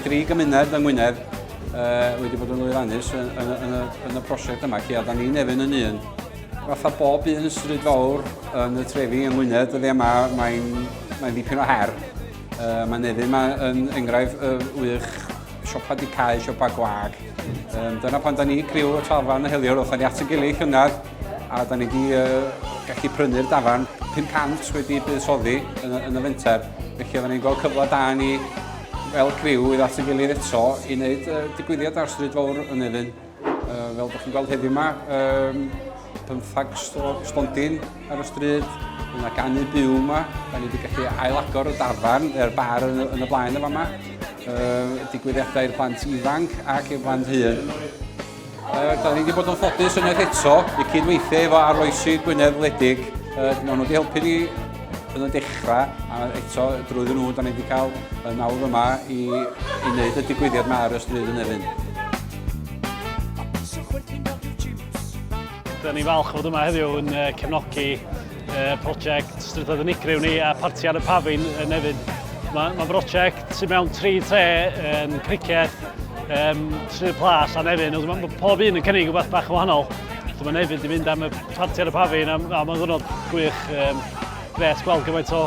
tri gymuned yng Ngwynedd uh, wedi bod yn lwyfannus yn, yn, yn, yn y prosiect yma, lle a da ni'n efyn yn un. Fatha bob un stryd fawr yn y trefi yng Ngwynedd, dyddiau yma mae'n mae dipyn o her. Uh, mae Nefyn ma yn enghraifft uh, wych siopa di cael, siopa gwag. Um, dyna pan da ni criw y trafan y heliwr, oedd ni at y gilydd llynedd, a da ni wedi uh, gallu prynu'r dafan 500 wedi buddsoddi yn, yn y fenter. Felly oedden ni'n gweld cyfle da ni fel criw i at y gilydd eto i wneud uh, digwyddiad ar stryd fawr yn Nefyn. Uh, fel ydych chi'n gweld heddiw yma, um, pymthag stondin ar y stryd, yna ganu byw yma, da ni wedi gallu ailagor y dafarn, yr bar yn, yn y blaen yma yma, uh, digwyddiadau i'r plant ifanc ac i'r plant hyn. Uh, da ni wedi bod yn ffodus yn yr eto i cydweithio efo arloesi Gwynedd Wledig. Uh, maen nhw wedi helpu ni yn y dechrau, a eto drwyddyn nhw, da ni wedi cael y nawdd yma i, i wneud y digwyddiad yma ar y stryd yn Efin. Dyna ni falch fod yma heddiw yn cefnogi prosiect Strydoedd Unigryw ni a Parti ar y Pafin yn Nefyn. Mae'n ma brosiect sy'n mewn tri tre yn criced, um, Sir Plas a Nefyn. Mae ma pob un yn cynnig rhywbeth bach yn wahanol. Mae Nefyn wedi mynd am y parti ar y pafin a, a mae'n ddwrnod gwych um, gret gweld gymaint o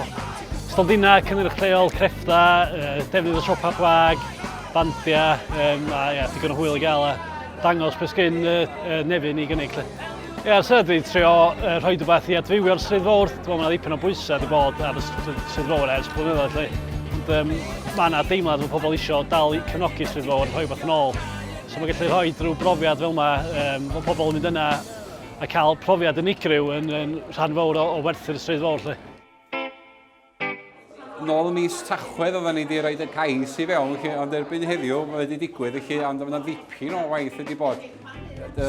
stondina, cynnyrch lleol, crefftau, uh, defnydd o siopa gwag, bandia, um, a ia, digon o hwyl i gael a dangos beth sgyn uh, uh, nefyn i gynnig. Lle. Ie, yeah, sydd wedi trio uh, rhoi rhywbeth i adfywio'r Stryd Fawr. Dwi'n meddwl mae ddipyn o bwysau wedi bod ar y Stryd Fawr ers blynyddoedd. Lle. Ond um, mae yna deimlad fod pobl eisiau dal i cefnogi Stryd Fawr, rhoi beth yn ôl. So mae gallu rhoi drwy brofiad fel yma, um, bod pobl yn mynd yna a cael profiad unigryw yn, yn rhan fawr o, o werthu'r Stryd Fawr. Lle. Nôl y mis Tachwedd oedden ni wedi rhoi y cais i fewn, chi, ond erbyn heddiw mae wedi digwydd, chi, ond mae yna ddipyn o waith wedi bod. Da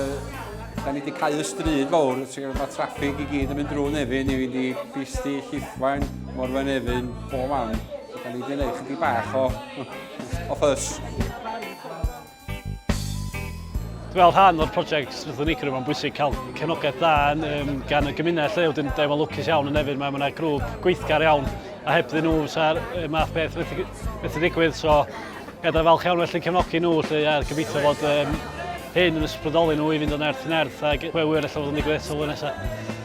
ni wedi cael y stryd fawr, mae traffig i gyd yn mynd drwy Nefyn i fynd i Bisti, Llithfaen, Morfa Nefyn, bob man. Da ni wedi gwneud chydig bach o, o ffys. Fel rhan o'r prosiect Strwythur Unigryw, mae'n bwysig cael cefnogaeth dda um, gan y gymuned lle, wedyn da efo lwcus iawn yn efydd, mae yna grŵp gweithgar iawn, a heb dyn nhw, sa'r math beth wedi digwydd, so edrych falch iawn felly cefnogi nhw, lle a gobeithio fod um, hyn yn ysbrydoli nhw i fynd yn erth yn erth, ac pwy wyr efallai fod yn digwydd eto flwyddyn nesaf.